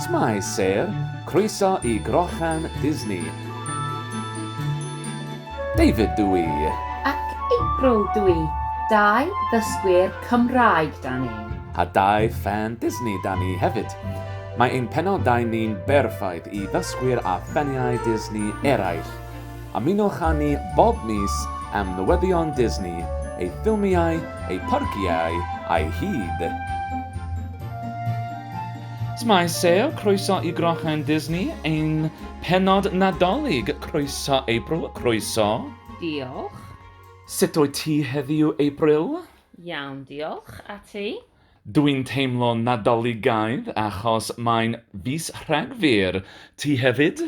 Shwmae Sir, croeso i Grochan Disney. David dw i. Ac April dw i. Dau ddysgwyr Cymraeg 'da ni. A dau ffan Disney 'da ni hefyd. Mae ein penodau ni'n berffaith i ddysgwyr a ffaniau Disney eraill. Ymunwch â ni bob mis am newyddion Disney, ei ffilmiau, ei pharciau a'i hud. Shwmae Sale, croeso i Grochen Disney, ein pennod Nadolig, croeso April, croeso! Diolch. Sut wyt ti heddiw April? Iawn diolch, a ti? Dwi'n teimlo Nadoligaidd achos mae'n fis Rhagfyr, ti hefyd?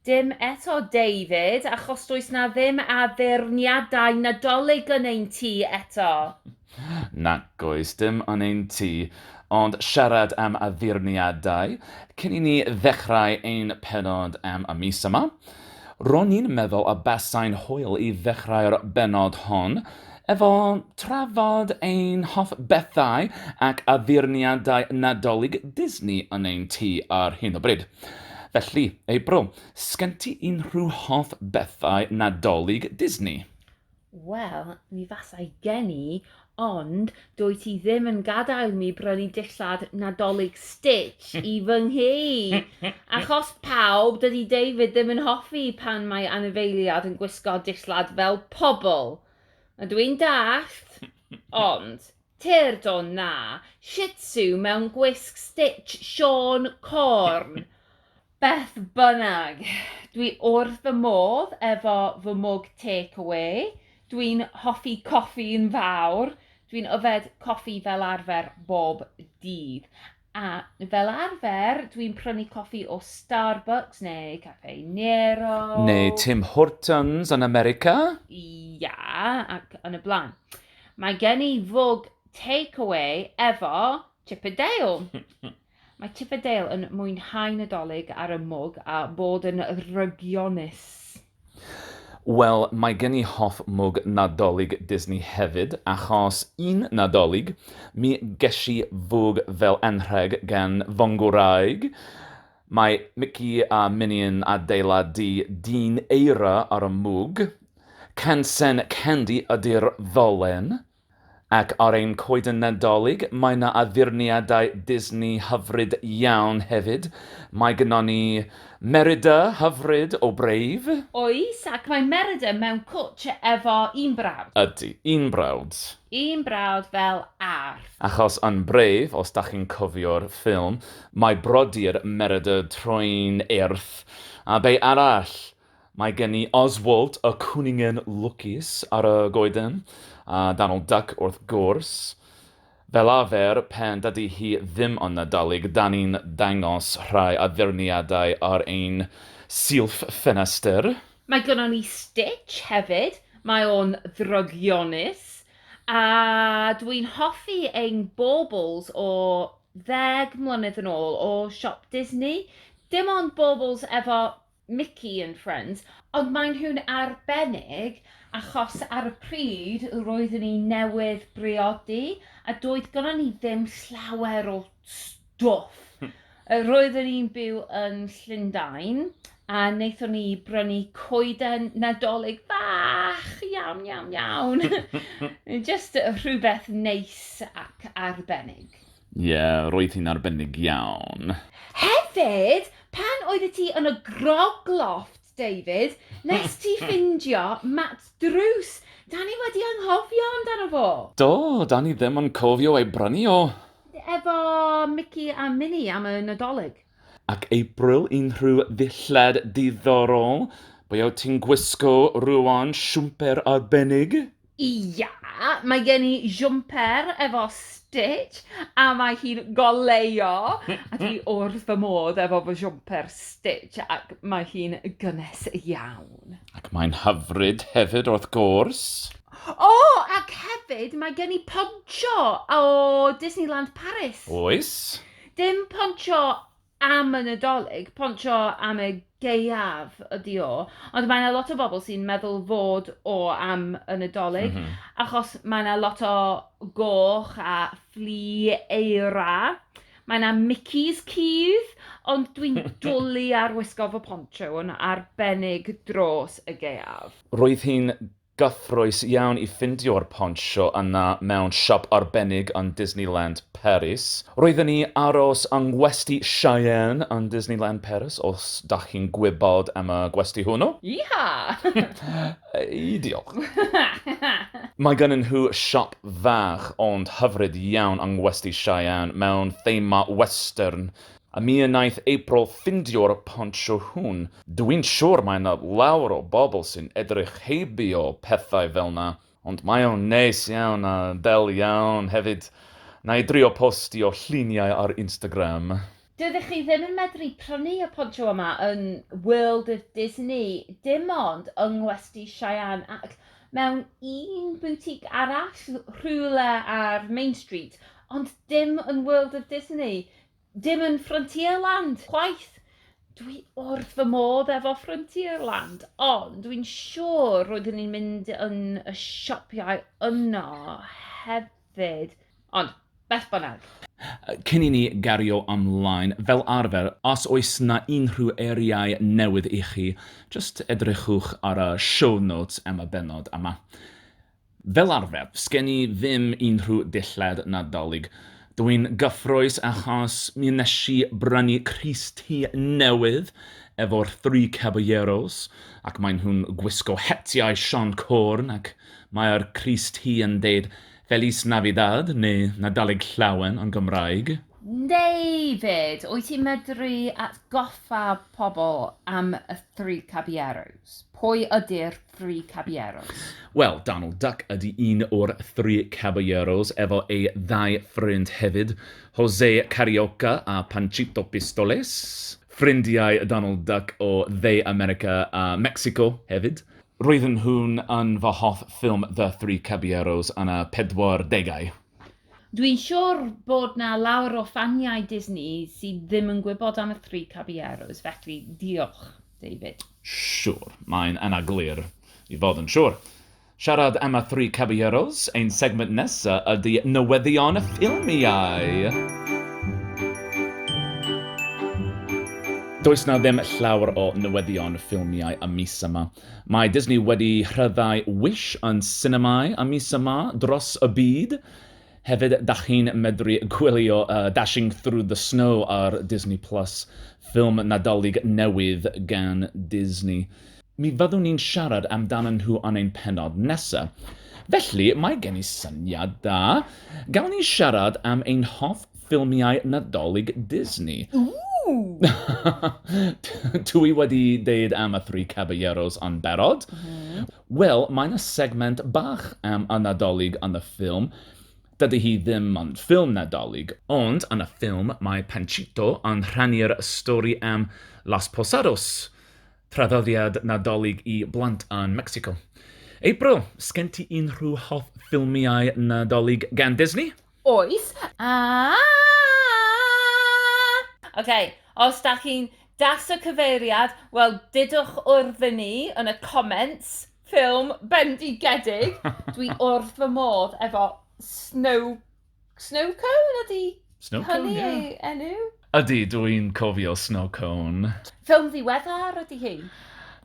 Dim eto, David, achos does na ddim addurniadau Nadolig yn ein tŷ eto. Nac oes, dim yn ein tŷ. Ond siarad am addurniadau, cyn i ni ddechrau ein pennod am y mis yma, ro'n i'n meddwl y basai'n hwyl i ddechrau'r bennod hon Efo trafod ein hoff bethau ac addurniadau Nadolig Disney yn ein tŷ ar hyn o bryd. Felly, April, sgen ti unrhyw hoff bethau Nadolig Disney? Wel, mi fasai gen i, ond dwyt ti ddim yn gadael mi brynu dillad Nadolig Stitch i fy nghi! Achos pawb, dydy David ddim yn hoffi pan mae anifeiliad yn gwisgo dillad fel pobl! A dw i'n dallt, ond, tyrd o na, Shih Tzu mewn gwisg Stitch Siôn Corn! Beth bynnag, dwi wrth fy modd efo fy mwg take away, dwi'n hoffi coffi'n fawr, dwi'n yfed coffi fel arfer bob dydd, A fel arfer, dwi'n prynu coffi o Starbucks neu Caffè Nero. Neu Tim Hortons yn America. Ia, ac yn y blaen. Mae gen i fwg take-away efo Chip a Dale. Mae Chip a Dale yn mwynhau Nadolig ar y mwg a bod yn rygionus. Wel, mae gen i hoff mwg Nadolig Disney hefyd, achos un Nadolig, mi gesh i fwg fel anrheg gan fy ngwraig. Mae Mici a Mini yn adeiladu dyn eira ar y mwg. Cansen Candy ydi'r ddolen. Ac ar ein coeden Nadolig, mae 'na addurniadau Disney hyfryd iawn hefyd. Mae gynnon ni Merida hyfryd o Brave. Oes, ac mae Merida mewn cwtsh efo un brawd. Ydy, un brawd. Un brawd fel arf. Achos yn Brave, os 'da chi'n cofio'r ffilm, mae brodyr Merida troi'n eirth, a be arall? Mae gen i Oswald y cwningen lwcus ar y goeden, a Donald Duck wrth gwrs. Fel arfer, pan dydy hi ddim yn Nadolig, 'da ni'n dangos rhai addurniadau ar ein silff ffenestr. Mae gynnon ni Stitch hefyd, mae o'n ddrygionus, a dwi'n hoffi ein baubles o ddeg mlynedd yn ôl o Siop Disney, dim ond baubles efo Mickey and Friends, ond maen nhw'n arbennig achos ar y pryd roeddwn i newydd briodi a doedd gynnon ni ddim llawer o stwff. Roeddwn i'n byw yn Llundain a wnaethon ni brynu coeden Nadolig fach, iawn, iawn, iawn. Just rhywbeth neis ac arbennig. Ie, roedd hi'n arbennig iawn. Hefyd, pan oeddet ti yn y Grog Loft, David, nest ti ffindio mat drws. Dan ni wedi anghofio amdano fo! Do, dan ni ddim yn cofio ei brynu o! Efo Mici a Mini am y Nadolig. Ac April, unrhyw ddillad diddorol? Be wyt ti'n gwisgo rŵan, siwmper arbennig? Ia, mae gen i jwmper efo stitch a mae hi'n goleuo a dwi wrth fy modd efo fy jwmper stitch ac mae hi'n gynnes iawn. Ac mae'n hyfryd hefyd wrth gwrs! O, ac hefyd mae gen i pontsio o Disneyland Paris. Oes. Dim pontsio am y Nadolig, pontio am y gaeaf ydi o. Ond mae yna lot o bobl sy'n meddwl fod o am y Nadolig, mm -hmm. achos mae yna lot o goch a fflu eira. Mae yna Mickey's cudd, ond dwi'n dwlu ar wisgo fy pontio yn arbennig dros y gaeaf. Roedd hi'n Gyffrous iawn i ffindio'r pontsio yna mewn siop arbennig yn Disneyland Paris. Roedden ni aros yng Ngwesty Cheyenne yn Disneyland Paris, os dach chi'n gwybod am y gwesty hwnnw. Yee-haw! Yy, diolch. Mae gynnyn nhw siop fach ond hyfryd iawn yng Ngwesty Cheyenne mewn thema western. A mi wnaeth April ffindio'r pontsio hwn. Dwi'n siwr mae 'na lawer o bobl sy'n edrych heibio pethau fel 'na, ond mae o'n neis iawn a del iawn hefyd. Wna i drio postio lluniau ar Instagram. Dydych chi ddim yn medru prynu y pontsio yma yn World of Disney, dim ond yng Ngwesty Cheyenne ac mewn un boutique arall rhywle ar Main Street, ond dim yn World of Disney. Dim yn Frontierland chwaith! Dwi wrth fy modd efo Frontierland, ond dwi'n siŵr roeddwn i'n mynd yn y sioppiau yno hefyd, ond beth bynnag. Cyn i ni gario ymlaen, fel arfer, os oes 'na unrhyw eiriau newydd i chi, jyst edrychwch ar y show notes am y bennod yma. Fel arfer, sgen i ddim unrhyw ddillad Nadolig. Dw i'n gyffrous achos mi wnes i brynu crys T newydd efo'r Three Caballeros ac maen nhw'n gwisgo hetiau Siân Corn ac mae'r crys T yn deud 'Feliz Navidad' neu 'Nadolig Llawen' yn Gymraeg. David, wyt ti'n medru atgoffa pobl am y Three Caballeros? Pwy ydy'r Three Caballeros? Wel, Donald Duck ydi un o'r Three Caballeros efo ei ddau ffrind hefyd, Jose Carioca a Panchito Pistoles. Ffrindiau Donald Duck o Dde America a Mecsico hefyd. Roedden nhw'n yn fy hoff ffilm The Three Caballeros yn y pedwardegau. Dwi'n siwr bod 'na lawer o ffaniau Disney sydd ddim yn gwybod am y Three Caballeros, felly diolch. David. Siwr, mae'n anaglir i fod yn siwr. Siarad am y Three Caballeros, ein segment nesa ydy newyddion ffilmiau! Does 'na ddim llawer o newyddion ffilmiau y mis yma. Mae Disney wedi rhyddhau Wish yn sinemâu y mis yma dros y byd. Hefyd, dach chi'n medru gwylio Dashing Through the Snow ar Disney Plus, ffilm Nadolig newydd gan Disney. Mi fyddwn ni'n siarad amdanyn nhw yn ein pennod nesa. Felly, mae gen i syniad da. Gawn ni siarad am ein hoff ffilmiau Nadolig Disney? Ww! Dw i wedi deud am y Three Caballeros yn barod. Wel, mae 'na segment bach am y Nadolig yn y ffilm. Dydy hi ddim yn ffilm Nadolig. Ond yn y ffilm mae Panchito yn rhannu'r stori am Las Posadas, traddodiad Nadolig i blant yn Mecsico. April, sgen ti unrhyw hoff ffilmiau Nadolig gan Disney? Oes, aah! Ok, os dach chi'n das y cyfeiriad, wel dudwch wrth i ni yn y comments, ffilm bendigedig, dwi wrth fy modd efo Snow... Snow Cone ydi hynny ei enw? Ydi, dw i'n cofio Snow Cone. Ffilm ddiweddar ydi hi?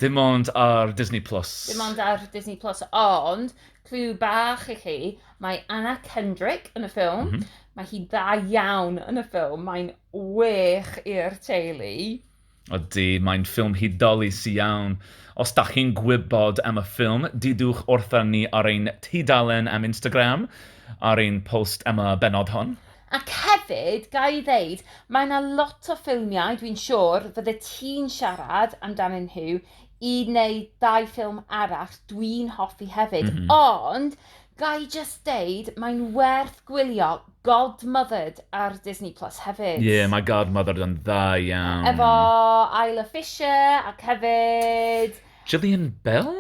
Dim ond ar Disney Plus. Dim ond ar Disney Plus, ond clw bach i chi, Mae Anna Kendrick yn y ffilm. Mm -hmm. Mae hi dda iawn yn y ffilm. Mae'n wych i'r teulu. Ydy, mae'n ffilm hudolus iawn. Os da chi'n gwybod am y ffilm, didwch wrtha ni ar ein tudalen am Instagram, ar ein post am y benod hon. Ac hefyd, ga i ddeud, mae yna lot o ffilmiau, dwi'n siwr, fydde ti'n siarad amdanyn nhw i wneud dau ffilm arall dwi'n hoffi hefyd. Mm -hmm. Ond, Ga i jyst deud, mae'n werth gwylio Godmothered ar Disney Plus hefyd. Ie, mae Godmothered yn dda iawn. Efo Isla Fisher ac hefyd... Jillian Bell?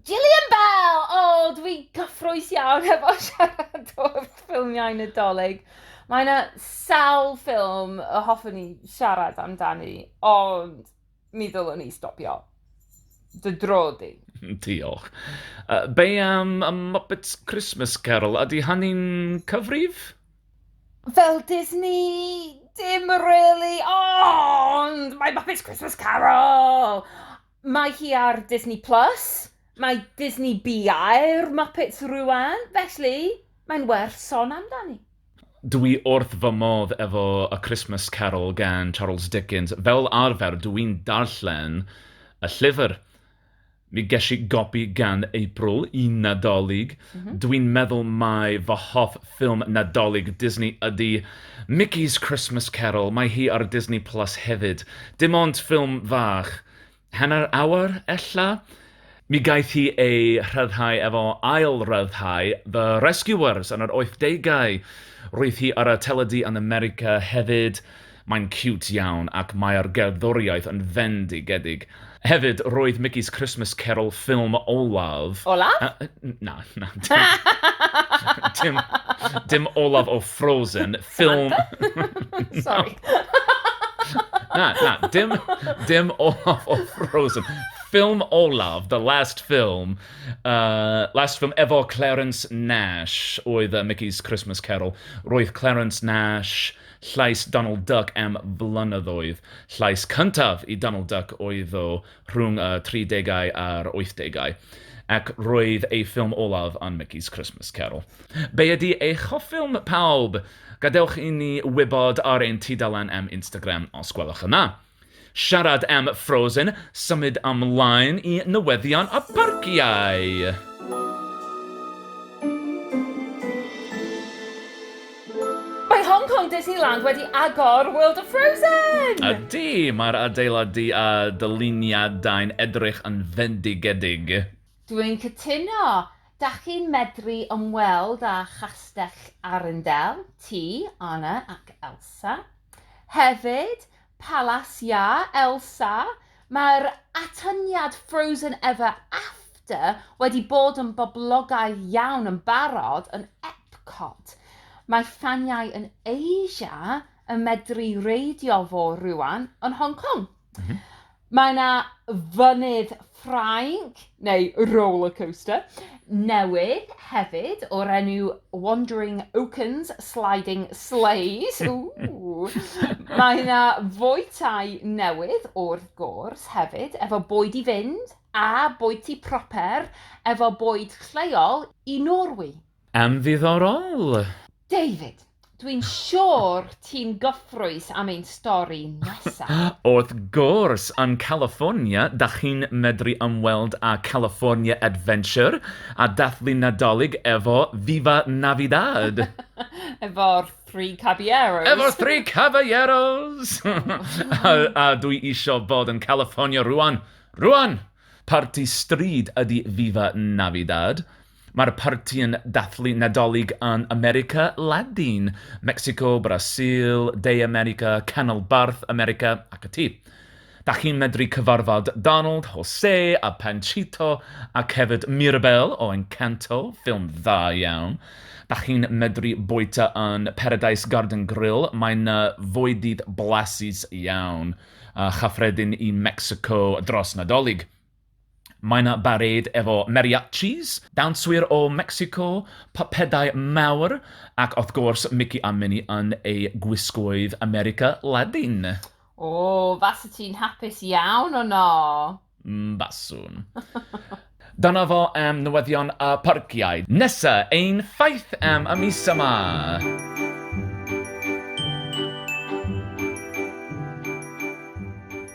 Jillian Bell! O, dwi gyffrous iawn efo siarad o'r ffilmiau Nadolig. Mae yna sawl ffilm y hoffwn i siarad amdani, ond... mi ddylwn i stopio dy dro di. Diolch. Uh, be am y Muppets Christmas Carol? Ydy hynny'n cyfrif? Fel Disney, dim really, ond mae Muppets Christmas Carol! Mae hi ar Disney Plus, mae Disney BI'r Muppets rwan, felly mae'n werth son amdani. Dw i wrth fy modd efo A Christmas Carol gan Charles Dickens. Fel arfer, dw i'n darllen y llyfr. Mi ges i gopi gan April i Nadolig. Dw i'n meddwl mai fy hoff ffilm Nadolig Disney ydy Mickey's Christmas Carol. Mae hi ar Disney Plus hefyd. Dim ond ffilm fach. hanner awr ella. Mi gaeth hi ei rhyddhau efo ail-ryddhau The Rescuers yn yr oithdegau. Roedd hi ar y teledu yn America hefyd. Mae'n ciwt iawn ac mae'r gerddoriaeth yn fendigedig. Hefyd, roedd Mickey's Christmas Carol ffilm olaf... Olaf? Na, na, dim olaf o Frozen. Ffilm... Samantha? Sori. Na, na, dim, dim Olaf o Frozen. Ffilm olaf, the last film, uh, last film efo Clarence Nash oedd uh, Mickey's Christmas Carol. Roedd Clarence Nash llais Donald Duck am flynyddoedd. Llais cyntaf i Donald Duck oedd o rhwng y tridegau a'r wythdegau, ac roedd ei ffilm olaf yn Mickey's Christmas Carol. Be ydy eich hoff ffilm pawb? Gadewch i ni wybod ar ein tudalen am Instagram os gwelwch yn dda. Siarad am Frozen, symud ymlaen i newyddion y parciau! Mae Hong Kong Disneyland wedi agor World of Frozen! Ydy, mae'r adeiladu a dyluniadau'n edrych yn fendigedig. Dwi'n cytuno! Dach chi'n medru ymweld â Chastell Arundel, Tŷ Anna ac Elsa. Hefyd, Palas Iâ Elsa, mae'r atyniad Frozen Ever After wedi bod yn boblogaidd iawn yn barod yn Epcot. Mae ffaniau yn Asia yn medru reidio fo rŵan yn Hong Kong. Mae 'na fynydd Ffrainc, neu rollercoaster, newydd hefyd o'r enw Wandering Oakens Sliding Sleighs. Mae 'na fwytai newydd wrth gwrs hefyd efo bwyd i fynd a bwyty proper efo bwyd lleol i Norwy. Yn ddiddorol! David, dwi'n siwr ti'n gyffrous am ein stori nesa. Wrth gwrs! Yn California, dach chi'n medru ymweld â California Adventure a dathlu Nadolig efo Viva Navidad! Efo'r Three Caballeros! Efo'r Three Caballeros! a, a dwi isio bod yn California rwan! Rwan! Parti stryd ydi Viva Navidad. Mae'r parti yn dathlu Nadolig yn America Ladin, Mecsico, Brasil, De America, Canolbarth America ac ati. Dach chi'n medru cyfarfod Donald, Jose a Panchito ac hefyd Mirabel o Encanto, ffilm dda iawn. Dach chi'n medru bwyta yn Paradise Garden Grill, mae 'na fwydydd blasus iawn a chyffredin i Mecsico dros Nadolig. Mae 'na barêd efo mariachis, dawnswyr o Mecsico, pypedau mawr, ac wrth gwrs Mici a Mini yn eu gwisgoedd America Ladin. O, fase ti'n hapus iawn o 'no! Mm, baswn. Dyna fo am newyddion y parciau. Nesa, ein ffaith am y mis yma!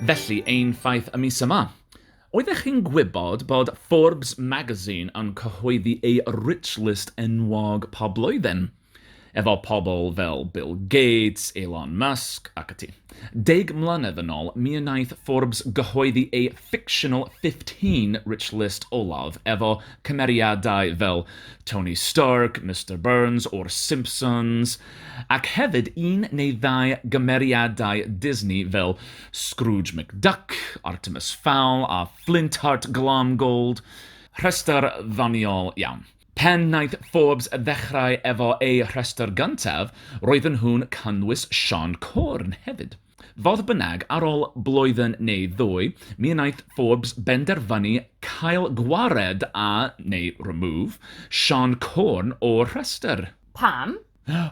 Felly, ein ffaith y mis yma. Oeddech chi'n gwybod bod Forbes Magazine yn cyhoeddi ei Rich List enwog pob blwyddyn? Efo pobl fel Bill Gates, Elon Musk, ac ati. Deg mlynedd yn ôl, mi wnaeth Forbes gyhoeddi ei fictional 15 Rich List olaf, efo cymeriadau fel Tony Stark, Mister Burns o'r Simpsons, Ac hefyd un neu ddau gymeriadau Disney fel Scrooge McDuck, Artemus Fowl a Flintheart Glamgold. Rhestr ddoniol iawn. Pan wnaeth Forbes ddechrau efo eu rhestr gyntaf, roedden nhw'n cynnwys Siân Corn hefyd. Fodd bynnag, ar ôl blwyddyn neu ddwy, mi wnaeth Forbes benderfynu cael gwared â, neu remove, Siân Corn o'r rhestr. Pam?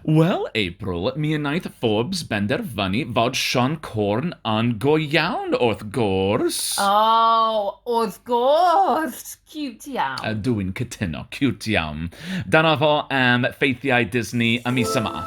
Wel, April, mi wnaeth Forbes benderfynu fod Siân Corn yn go iawn, wrth gwrs! O, wrth gwrs! Ciwt iawn! Ydw i'n cytuno, ciwt iawn. Dyna fo am ffeithiau Disney y mis yma.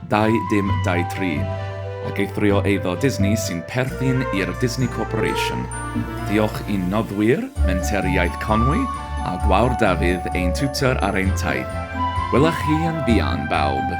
Dau dim dau tri, ac eithrio eiddo Disney sy'n perthyn i'r Disney Corporation. Diolch i'n noddwyr, Menter Iaith Conwy, a Gwawr Dafydd, ein tiwtor ar ein taith. Wela chi yn fuan, bawb!